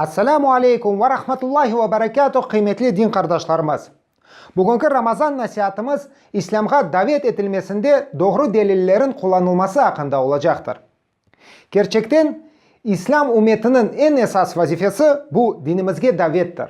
Esselamu aleykum ve rahmetullahi ve berekatuh qıymetli din qardaşlarımız! Bugünki Ramazan nasiatımız İslâmğa davet etilmesinde doğru delillerin qullanılması aqqında olacaqtır. Kerçekten, İslâm ümmetiniñ eñ esas vazifesi bu dinimizge davettir.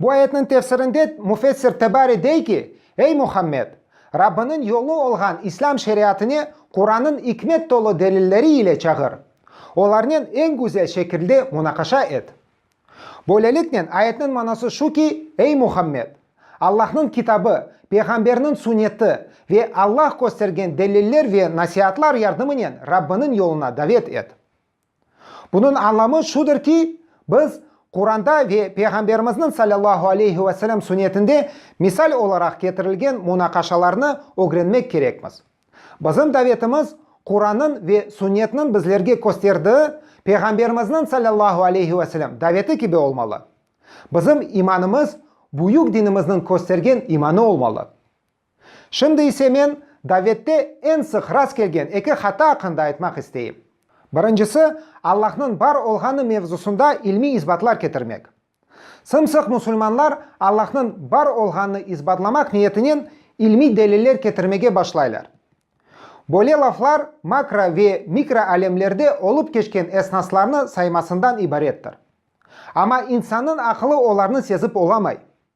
Bu ayetniñ tefsirinde müfessir Tebari dey ki, Ey Muhammed! Rabbiniñ yolu olğan İslâm şeriatine Qurannıñ ikmet tolu delilleri ile çağır, olarnen eñ güzel şekilde munaqaşa et. Böyleliknen, ayetniñ manası şu ki, Ey Muhammed! Allahnıñ Kitabı, Peyğamberniñ Sünneti ve Allah köstergen deliller ve nasiatlar yardımınen Rabbiniñ yoluna davet et. Bunıñ añlamı şudır ki, biz Quranda ve Peyğamberimizniñ salâllahu aleyhi ve selâm sünnetinde misal olaraq ketirilgen munaqaşalarnı ögrenmek kerekmiz. Bizim davetimiz Qurannıñ ve sünnetniñ bizlerge kösterdiği Peyğamberimizniñ salâllahu aleyhi ve selâm daveti kibi olmalı. Bizim imanımız büyük dinimizniñ köstergen imanı olmalı. Şimdi ise men davette eñ sıq rast kelgen eki hata aqqında aytmaq isteyim. Birincisi, Allahnıñ bar olğanı mevzusında ilmiy isbatlar ketirmek. Sımsıq musulmanlar Allahnıñ bar olğanını isbatlamaq niyetinen ilmiy deliller ketirmege başlaylar. Böyle laflar makro ve mikro alemlerde olıp keçken esnaslarnı saymasından ibarettir. Amma insannıñ aqılı olarnı sezip olamay.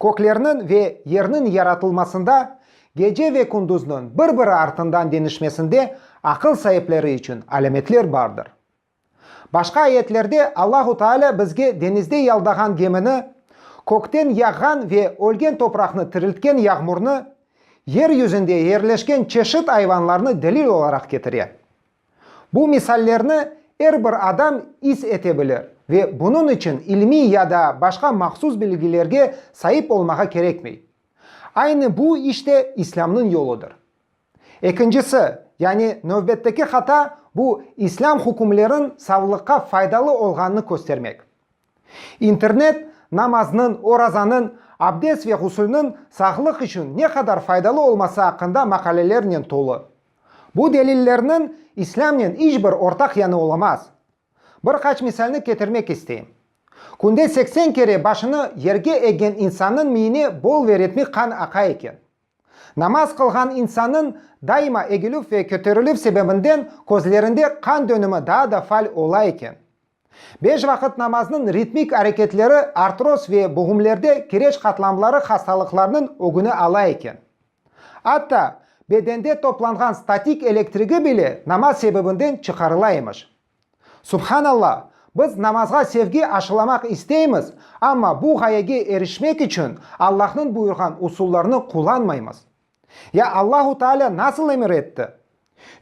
Köklerniñ ve yerniñ yaratılmasında, gece ve kündüzniñ bir-biri artından deñişmesinde aqıl saipleri içün alâmetler bardır. Başqa ayetlerde Allahu Taalâ bizge deñizde yaldağan gemini, kökten yağğan ve ölgen topraqnı tiriltken yağmurnı, yer yüzünde yerleşken çeşit ayvanlarnı delil olaraq ketire. Bu misallerni er bir adam is ete bilir ve bunıñ içün ilmiy ya da başqa mahsus bilgilerge saip olmağa kerekmey. Aynı bu iş de İslâmnıñ yoludır. Ekincisi, yani növbetteki hata, bu İslâm hükümleriñ savlıqqa faydalı olğanını köstermek. İnternet, namaznıñ, orazanıñ, abdes ve ğusülniñ sağlıq içün ne qadar faydalı olması aqqında maqalelernen tolu. Bu delillerniñ İslâmnen iç bir ortaq yanı olamaz. Bir qaç misalni ketirmek isteyim. Künde seksen kere başını yerge eggen insannıñ miyine bol ve ritmik qan aqa eken. Namaz qılğan insannıñ daima egilüv ve köterilüv sebebinden közlerinde qan dönümi daa da faal ola eken. Beş vaqıt namaznıñ ritmik areketleri artroz ve boğumlerde kireç qatlamları hastalıqlarnıñ ögüni ala eken. Atta, bedende toplanğan statik elektrigi bile namaz sebebinden çıqarıla emiş. Subhanalla, biz namazğa sevgi aşılamaq isteymiz, amma bu ğayege erişmek içün Allahnıñ buyurğan usullarnı qullanmaymız. Ya Allahu Teala nasıl emir etti?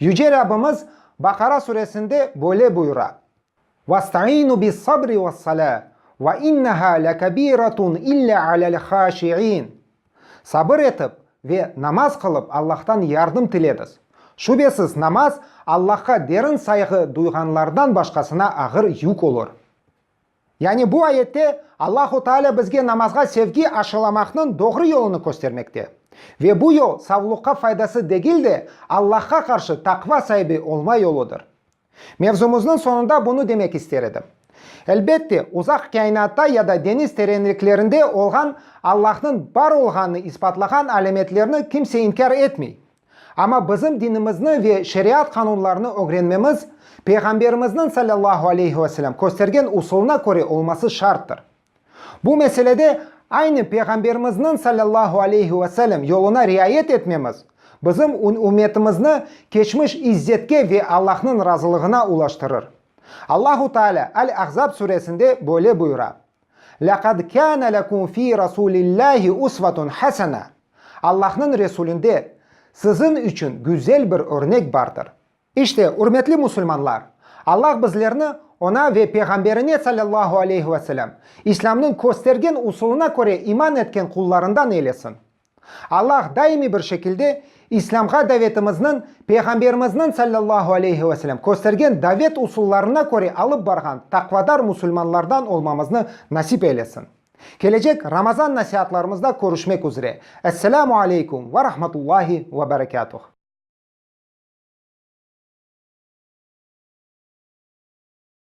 Yüce Rabbimiz Baqara suresinde böyle buyura, Vastaiinu bis-sabri ves-salâ, ve innehâ lekebîretun illâ alel-hâşiîn, Sabır etip ve namaz qılıp Allahtan yardım tilediz. Şübesiz, namaz Allahqa derin sayğı duyğanlardan başqasına ağır yük olur. Yani bu ayette Allahu Taalâ bizge namazğa sevgi aşılamaqnıñ doğru yolunı köstermekte. Ve bu yol savluqqa faydası degil de, Allahqa qarşı taqva saibi olma yoludır. Mevzumıznıñ soñunda bunı demek ister edim. Elbette, uzaq kainatta ya da deñiz terenliklerinde olğan Allahnıñ bar olğanını isbatlağan alâmetlerni kimse inkâr etmey, Amma bizim dinimizni ve şeriat qanunlarını ögrenmemiz Peyğamberimizniñ salâllahu aleyhi ve selâm köstergen usulına köre olması şarttır. Bu meselede aynı Peyğamberimizniñ salâllahu aleyhi ve selâm yoluna riayet etmemiz bizim ümetimizni keçmiş izzetke ve Allahnıñ razılığına ulaştırır. Allahu Taalâ Al-Ahzab suresinde böyle buyura. Lâqad kâne lekum fî Rasûlillâhi usvetun hasena, Allahnıñ Resulinde siziñ içün güzel bir örnek bardır. İşte, ürmetli musulmanlar, Allah bizlerni Oña ve Peyğamberine sallallahu aleyhi ve sellem İslâmnıñ köstergen usulına köre iman etken qullarından eylesin. Allah daimiy bir şekilde İslâmğa davetimizniñ Peyğamberimizniñ, sallallahu aleyhi ve selem, köstergen davet usullarına köre alıp barğan taqvadar musulmanlardan olmamıznı nasip eylesin. Kelecek Ramazan nasihatlarımızda körüşmek üzre. Esselamu aleykum ve rahmetullahi ve berekâtuh.